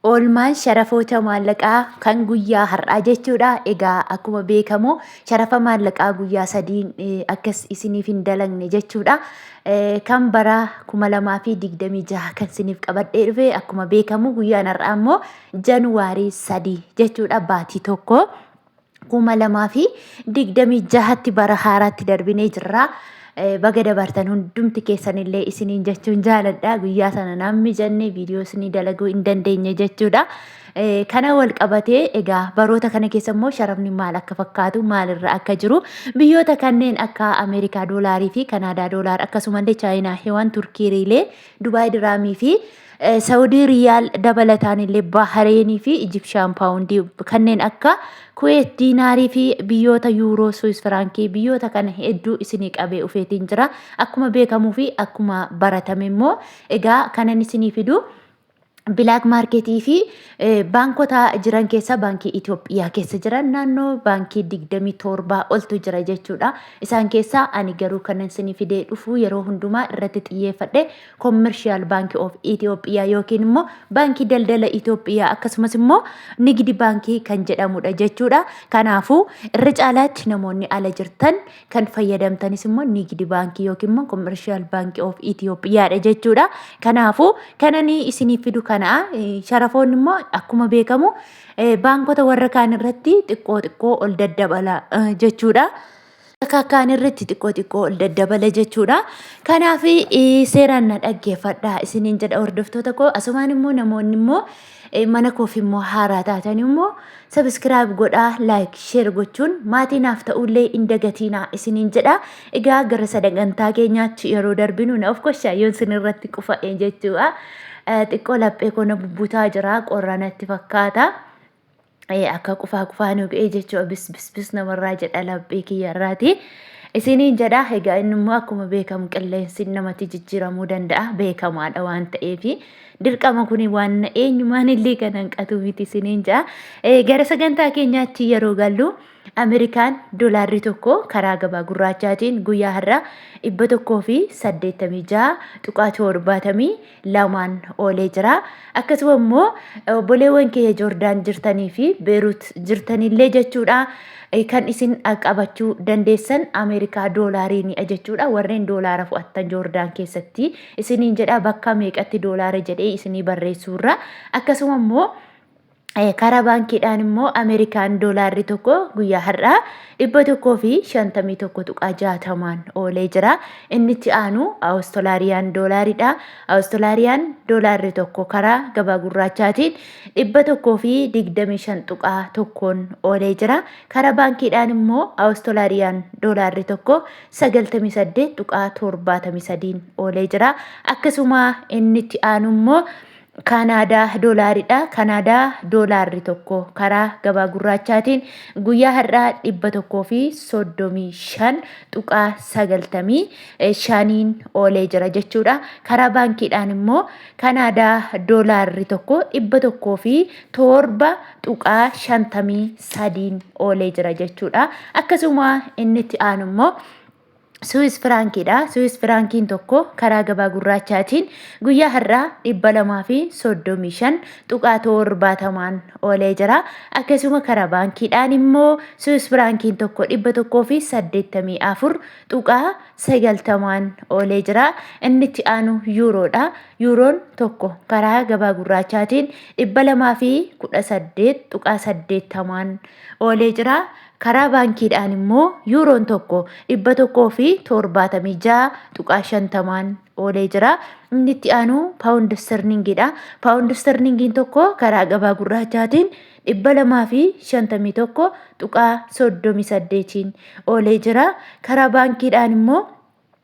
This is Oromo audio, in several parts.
Oolmaan sharafoota maallaqaa kan guyyaa har'aa jechuudha. Egaa akkuma beekamu sharafa maallaqaa guyyaa sadiin akkas isiniif hin dalagne jechuudha. Kan bara 2026 kan isiniif qabadhee dhufe akkuma beekamu guyyaan har'aa immoo Januwaarii 3 jechuudha baatii tokko. kuma lamaa fi digdamii jahatti bara haaraatti darbinee jirra. Eh, Baga dabartan hundumti keessanillee isiniin jechuun jaaladha. Guyyaa sana naan mijanne viidiyoo isinii dalaguu hin dandeenye jechuudha. Eh, Kana wal qabatee egaa baroota kana keessa immoo sharafni maal akka fakkaatu maalirra akka jiru biyyoota kanneen akka Ameerikaa doolaarii fi Kanaadaa doolaar akkasumallee Chaayinaa heewaan Turkii riilee Dubaay diraamii fi Saawudii Riyaal dabalataan illee Bahareenii fi Ijipshaan Paawundii kanneen akka Kuweet Diinaarii fi biyyoota Yuuroo Suwis Firaankii biyyoota kana hedduu isinii qabee ufeetiin jira. Akkuma beekamuu fi akkuma baratame immoo egaa kanan isinii fidu bilaak maarkeetii fi baankota jiran keessa baankii Itoophiyaa keessa jiran naannoo baankii digdamii torbaa oltu jira jechuudha. Isaan keessaa ani garuu kanan isinii fidee dhufu yeroo hundumaa irratti xiyyeeffadhe Commercial Bank of Ethiopia yookiin immoo baankii daldala Itoophiyaa akkasumas immoo nigidi baankii kan jedhamudha jechuudha. Kanaafuu irra caalaatti namoonni ala jirtan kan fayyadamtanis immoo nigidi baankii yookiin immoo Commercial Bank of Ethiopiaadha jechuudha. Kanaafuu kananii isiniif fidu kana sharafoonni immoo akkuma beekamu baankota warra kaan irratti xiqqoo xiqqoo ol daddabala jechuudha. Kakkaan irratti xiqqoo xiqqoo ol daddabala jechuudha. Kanaaf seeraan na dhaggeeffadhaa isiniin jedha hordoftoota koo asumaan immoo namoonni immoo mana koof immoo haaraa taatan immoo sabiskiraayib godhaa laayik sheer gochuun maatii naaf ta'ullee hin dagatiinaa isiniin jedha. Egaa gara sagantaa keenyaatti yeroo darbinu na of koshaa yoon isin irratti qufa'e jechuudha. Xiqqoo laphee koo na bubbutaa jira qorra natti fakkaata. Ee akka qufaa qufaa nu ga'ee jechuu bis bis bis namarraa jedha laphee kiyyarraati. Isiniin jedha egaa inni immoo akkuma beekamu qilleensi namatti jijjiiramuu danda'a beekamaadha waan ta'eef dirqama kun waan eenyumaan illee kan hanqatu miti isiniin jedha. Gara sagantaa keenyaatti yeroo gallu. Ameerikaan dolaarri tokko karaa gabaa gurraachaatiin guyyaa har'aa 186.72n oolee jira. Akkasuma immoo obboleewwan keenya Joordaan jirtanii fi Beeruut jirtanillee jechuudha kan isin qabachuu dandeessan Ameerikaa doolaariinidha jechuudha. Warreen doolaara fu'attan Joordaan keessatti isiniin jedha bakka meeqatti doolaara jedhee isinii barreessuurra akkasuma immoo Karaa baankiidhaan immoo Ameerikaan doolaarri tokko guyyaa har'aa 151.60n oolee jira. Inni itti aanu Awustolaariyaan doolaariidha. Awustolaariyaan doolaarri tokko karaa gabaa gurraachaatiin 125.1n oolee jira. Karaa baankiidhaan immoo Awustolaariyaan doolaarri tokko 98.73n oolee jira. Akkasuma inni itti aanu immoo Kaanaadaa Doolaari dha. Kaanaadaa Doolaarri tokko karaa gabaa gurraachaatiin guyyaa har'aa 135.95n oolee jira jechuudha. Karaa baankiidhaan immoo Kaanaadaa Doolaarri tokko 107.53n oolee jira jechuudha. Akkasuma inni itti aanu immoo Suwis firaankiidha. Suwis firaankiin tokko karaa gabaa gurraachaatiin guyyaa har'aa 235 tuqaa torbaatamaan oolee jira. Akkasuma karaa baankiidhaan immoo Suwis firaankiin tokko 184 tuqaa 90n oolee jira. Inni itti aanu yuuroodha. Yuuroon tokko karaa gabaa gurraachaatiin 218 tuqaa 80n oolee jira. Karaa baankiidhaan immoo yuuroon tokko 176.50n oolee jira. Inni itti aanu paawundi istirningiidha. Paawundi istirningiin tokko karaa gabaa gurraachaatiin 251.38n oolee jira. Karaa baankiidhaan immoo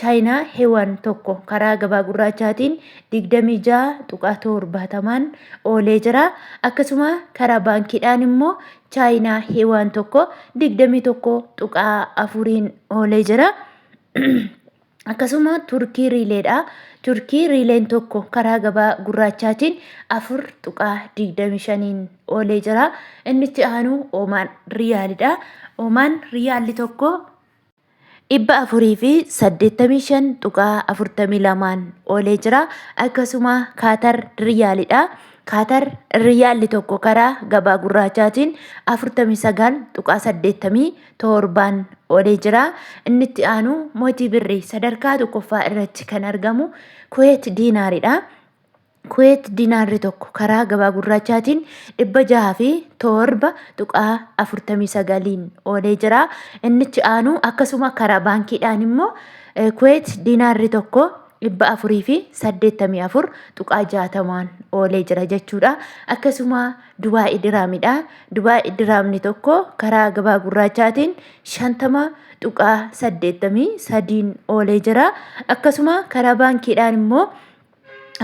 Chaayinaa Hewan 1 karaa gabaa gurraachaatiin 26.70n oolee jira. Akkasuma karaa baankiidhaan immoo Chaayinaa Hewan 1 21.4n oolee jira. Akkasuma Turkii Riileedha. Turkii Riileen tokko karaa gabaa gurraachaatiin 4.25n oolee jira. Inni itti aanu Oomaan Riyaalidha. Oomaan Riyaalli tokko 485.42n oolee jira. Akkasuma Kaatar Riyaaliidha. Kaatar Riyaalli tokko karaa gabaa gurraachaatiin 49.87n oolee jira. Inni itti aanu mootii birrii sadarkaa tokkoffaa irratti kan argamu Kuweet Diinaariidha. Kuweet Dinaarri tokko karaa gabaa gurraachaatiin 607.49n oolee jira. Innichi aanu akkasuma karaa baankiidhaan immoo Kuweet Dinaarri tokko 484.60n oolee jira jechuudha. Akkasuma Dubaa'ii Diraamidha. Dubaa'ii Diraamni tokko karaa gabaa gurraachaatiin 50.83n oolee jira. Akkasuma karaa baankiidhaan immoo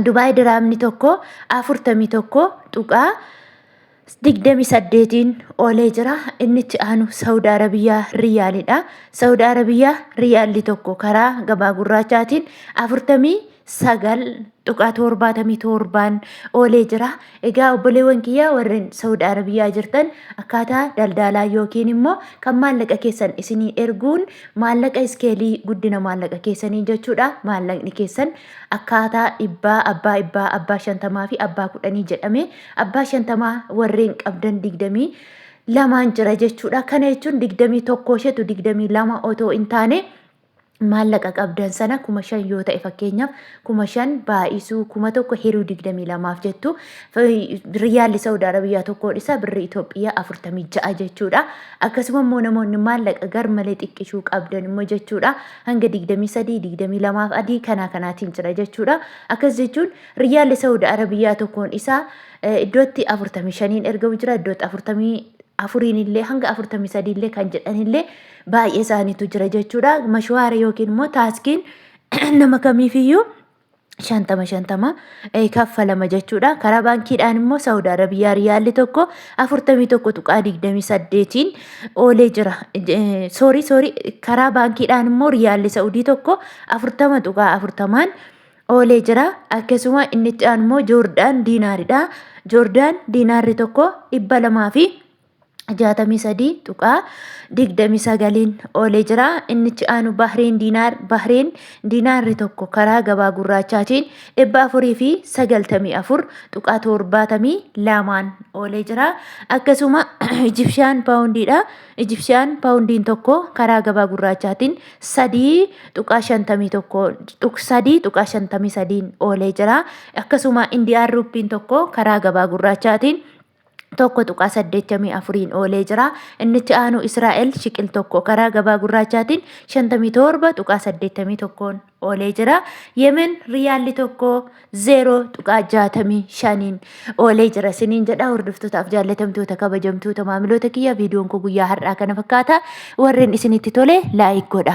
Dubaay diraamni tokko 41.28n oolee jira. Inni itti aanu Saawud Arabiyaa Riyaalidha. Saawud Arabiyaa Riyaalli tokko karaa gabaa gurraachaatiin 49.77n oolee jira. Egaa obboleewwan kiyyaa warreen Saawud Arabiyaa jirtan akkaataa daldaalaa yookiin immoo kan maallaqa keessan isinii erguun maallaqa iskeelii guddina maallaqa keessanii jechuudha. Maallaqni keessan Akkaataa dhibbaa, abbaa ibbaa, abbaa shantamaa fi abbaa kudhanii jedhamee abbaa shantamaa warreen qabdan digdamii lamaan jira jechuudha. Kana jechuun digdamii tokko isheetu digdamii lama otoo hin taane maallaqa qabdan sana kuma shan yoo ta'e fakkeenyaaf kuma shan baay'isuu kuma tokko hiruu digdamii lamaaf jettu riyyaalli Saawud Arabiyaa tokkoon isaa birri Itoophiyaa afurtamii ja'a jechuudha. Akkasuma immoo namoonni maallaqa garmalee xiqqishuu qabdan immoo jechuudha. hanga 23, 22 fi adii kanaa kanaatiin jira jechuudha. Akkas jechuun riyyaalli Saudi Arabiyaa tokkoon isaa eh, iddootti 45n ergamu jira, iddootti 44n illee hanga 43 illee kan jedhan illee baay'ee isaaniitu jira jechuudha. Mashwaara yookiin immoo taaskiin nama kamiifiyyuu shantama shantama eh, kaffalama jechuudha. Karaa baankiidhaan immoo Saawud Arabiyaa riyaalli tokko afurtamii tokko tuqaa digdamii saddeetiin oolee jira. Eh, Soorii soorii karaa baankiidhaan immoo riyaalli Saawudii tokko afurtama tuqaa afurtamaan oolee jira. Akkasuma inni itti aanu immoo Joordaan diinaariidha. Joordaan diinaarri tokko dhibba lamaa fi 63.29n oolee jira. Innichi aanu Bahreen Diinaar, Bahreen Diinaarri tokko karaa gabaa gurraachaatiin 494.72n oolee jira. Akkasuma Ijipshaan Paawundiidha. Ijipshaan Paawundiin tokko karaa gabaa gurraachaatiin 3.53n oolee jira. Akkasuma Indiyaan Ruuppiin tokko karaa gabaa gurraachaatiin 1.84n oolee jira. Inni itti aanu Israa'el shiqil tokko karaa gabaa gurraachaatiin 57.81n oolee jira. Yemen riyaalli tokko 0.65n oolee jira. Siniin jedha hordoftootaaf jaallatamtoota kabajamtoota maamiloota kiyya viidiyoon koo guyyaa har'aa kana fakkaata. Warreen isinitti tole laayik godha.